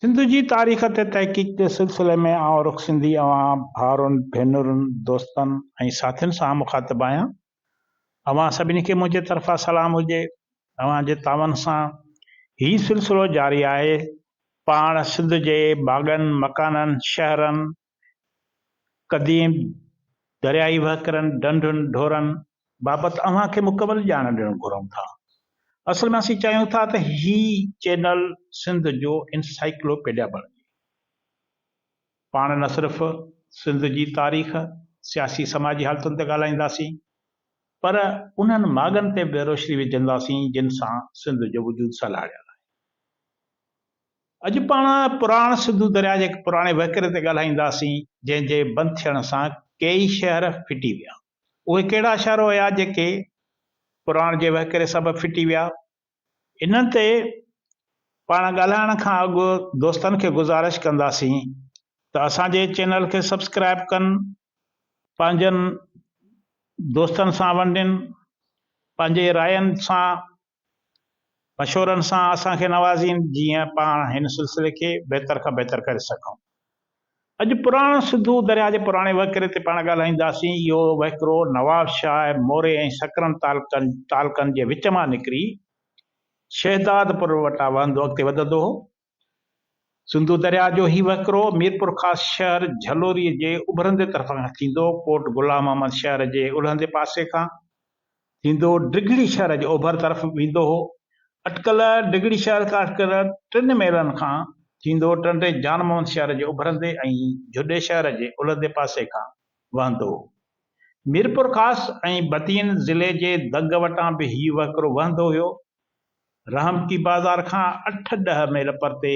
سنڌ جي تاريخ تي تحقيق جي سلسلي ۾ آئون رخ سنڌي اوهان ڀائرن، ڀينرن، دوستن ۽ ساٿين سان مخاطب آهيان. اوهان سڀني کي منهنجي طرفان سلام هجي. اوهان جي تعاون سان هي سلسلو جاري آهي. پاڻ سنڌ جي باغن، مڪانن، شهرن، قديم درياهي وهڪرن، ڍنڍن، ڍورن بابت اوهان کي مڪمل ڄاڻ ڏيڻ گهرون ٿا. اصل ۾ اسين چاهيون ٿا ته هي چينل سنڌ جو انسائيڪلوپيڊيا بڻجي. پاڻ نه صرف سنڌ جي تاريخ، سياسي سماجي حالتن تي ڳالهائينداسين پر انهن ماڳن تي به روشني وجهنداسين جن سان سنڌ جو وجود سلهاڙيل آهي. اڄ پاڻ پراڻ سنڌو درياء جي هڪ پراڻي وهڪري تي ڳالهائينداسين، جنهن جي بند ٿيڻ سان ڪيئي شهر ڦٽي ويا. اهي ڪهڙا شهر هيا جيڪي پراڻ جي وهڪري سبب ڦٽي ويا؟ انهن تي پاڻ ڳالهائڻ کان اڳ دوستن کي گذارش ڪنداسين ته اسان جي چينل کي سبسڪرائيب ڪن، پنهنجن دوستن سان ونڊين، پنهنجي راين سان مشورن سان اسان کي نوازين جيئن پاڻ هن سلسلي کي بهتر کان بهتر ڪري سگهون. اڄ پراڻو سنڌو درياء جي پراڻي وهڪري تي پاڻ ڳالهائينداسين. اهو وهڪرو نوابشاهه، موري ۽ سڪرن تعلقن جي وچ مان نڪري شهدادپور وٽان وهندو اڳتي وڌندو هو. سنڌو درياء جو هي وهڪرو ميرپورخاص شهر جهلوري جي اڀرندي طرف کان ٿيندو ڪوٽ غلام محمد شهر جي الهندي پاسي کان ٿيندو ڊگهڙي شهر جي اوڀر طرف ويندو هو. اٽڪل ڊگهڙي شهر کان اٽڪل ٽن ميلن کان ٿيندو ٽنڊي جان محمد شهر جي اڀرندي ۽ جهڏي شهر جي الهندي پاسي کان وهندو هو. ميرپورخاص ۽ بدين ضلعي جي دنگ وٽان به هي وهڪرو وهندو هيو. رحمتي بازار کان اٺ ڏهه ميل پرتي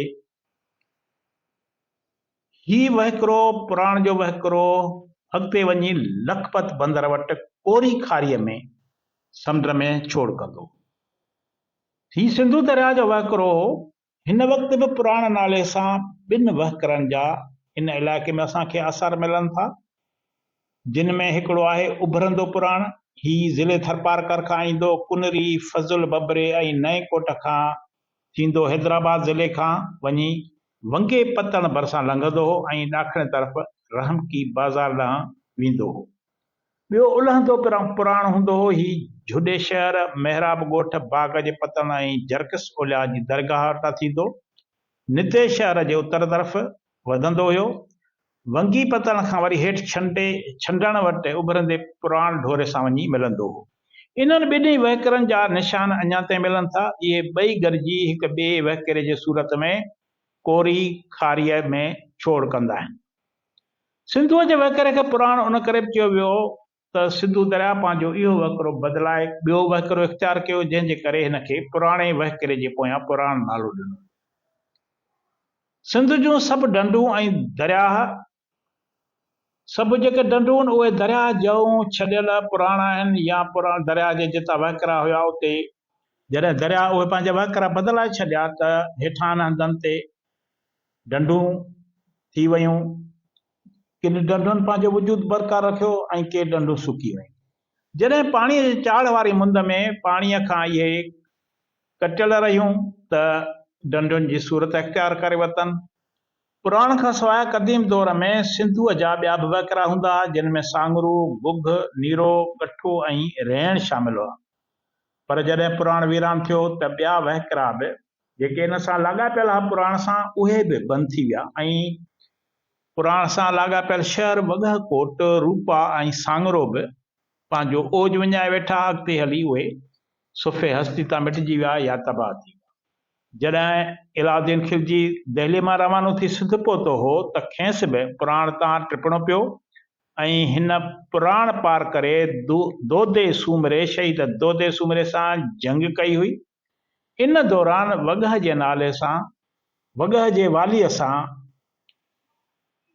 هي وهڪرو پراڻ جو وهڪرو اڳتي وڃي لکپت بندر وٽ ڪوري کاريء ۾ سمنڊ ۾ ڇوڙ ڪندو ٿي سنڌو درياء جو وهڪرو هو هن وقت به پراڻ نالي سان ٻن وهڪرن جا هن علائقي ۾ اسان کي آثار ملن ٿا، جن ۾ هڪڙو آهي اڀرندو پراڻ، هي ضلعي ٿرپارڪر کان ايندو ڪنري، فضل ببري ۽ نئين ڪوٽ کان ٿيندو حيدرآباد ضلعي کان وڃي ونگي پتڻ ڀرسان لنگهندو هو ۽ ڏاکڻي طرف رحمڪي بازار ڏانهن ويندو هو. ٻيو الهندو پرم پراڻ هوندو هو. هي جهڏي شهر، محراب ڳوٺ، باغ جي پتڻ ۽ جرڪس اولياء جي درگاهه وٽان ٿيندو نتي شهر جي اتر طرف وڌندو هيو. ونگي پتڻ کان وري هيٺ ڇنڊي ڇنڊڻ وٽ اڀرندي پراڻ ڍوري سان وڃي ملندو هو. انهن ٻنهي وهڪرن جا نشان اڃا تائين ملن ٿا. اهي ٻئي گڏجي هڪ ٻئي وهڪري جي صورت ۾ ڪوري کاريء ۾ ڇوڙ ڪندا آهن. سنڌوء جي وهڪري کي پراڻ ان ڪري به چيو ويو ته سنڌو درياء پنهنجو اهو وهڪرو بدلائي ٻيو وهڪرو اختيار ڪيو، جنهن جي ڪري هن کي پراڻي وهڪري جي پويان پراڻ نالو ڏنو. سنڌ جون سڀ ڍنڍون ۽ درياهه، سڀ جيڪي ڍنڍون اهي درياهه جهون ڇڏيل پراڻ آهن يا پراڻ درياهه جي جتان وهڪرا هيا اتي، جڏهن درياهه اهي پنهنجا وهڪرا بدلائي ڇڏيا ته هيٺان هنڌن تي ڍنڍون ٿي ويون. ڪن ڍنڍن پنهنجو وجود برقرار رکيو ۽ ڪي ڍنڍون سڪي ويون. جڏهن پاڻيء جي چاڙهه واري مند ۾ پاڻيء کان اهي ڪٽيل رهيون ته ڍنڍن جي صورت اختيار ڪري ورتن. پراڻ کان سواء قديم دور ۾ سنڌوء جا ٻيا به وهڪرا هوندا ها، جن ۾ سانگرو، گگهه، نيرو، ڳٺو ۽ ريڻ شامل هئا. پر جڏهن پراڻ ويران ٿيو ته ٻيا وهڪرا به جيڪي ان سان لاڳاپيل ها پراڻ سان اهي به بند ٿي ويا ۽ پراڻ سان لاڳاپيل شهر وڳهه ڪوٽ، روپا ۽ سانگرو به پنهنجو اوج وڃائي ويٺا اڳتي هلي اهي صفحي هستي تان مٽجي ويا يا تباهه ٿي ويا. جڏهن علاؤالدين خلجي دهلي مان روانو ٿي سنڌ پهتو هو ته کيس به پراڻ تان ٽپڻو پيو ۽ هن پراڻ پار ڪري دودي سومري شهيد دودي سومري سان جنگ ڪئي هئي. ان دوران وڳهه جي نالي سان وڳهه جي واليء سان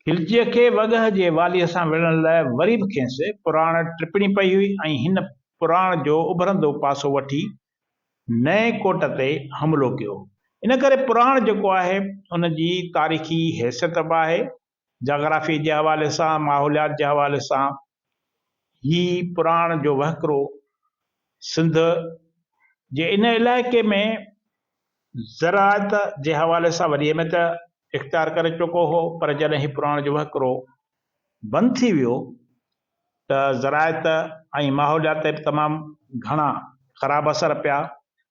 کلچيء کي وڳهه جي واليء سان وڙهڻ لاء وري به کيس پراڻ ٽپڻي پئي هئي ۽ هن پراڻ جو اڀرندو پاسو وٺي نئين ڪوٽ تي حملو ڪيو. ان ڪري پراڻ جيڪو آهي ان جي تاريخي حيثيت به آهي جاگرافي جي حوالي سان، ماحوليات جي حوالي سان هي پراڻ جو وهڪرو سنڌ جي ان علائقي ۾ زراعت جي حوالي سان وڏي اهميت اختيار ڪري چڪو هو پر جڏهن هي پراڻ جو وهڪرو بند ٿي ويو ته زراعت ۽ ماحوليات تي به تمام گهڻا خراب اثر پيا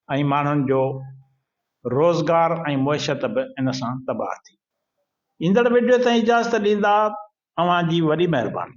۽ ماڻهن جو روزگار ۽ معيشت به ان سان تباهه ٿي. ايندڙ وڊيو تائين اجازت ڏيندا اوهان جي وڏي مهرباني.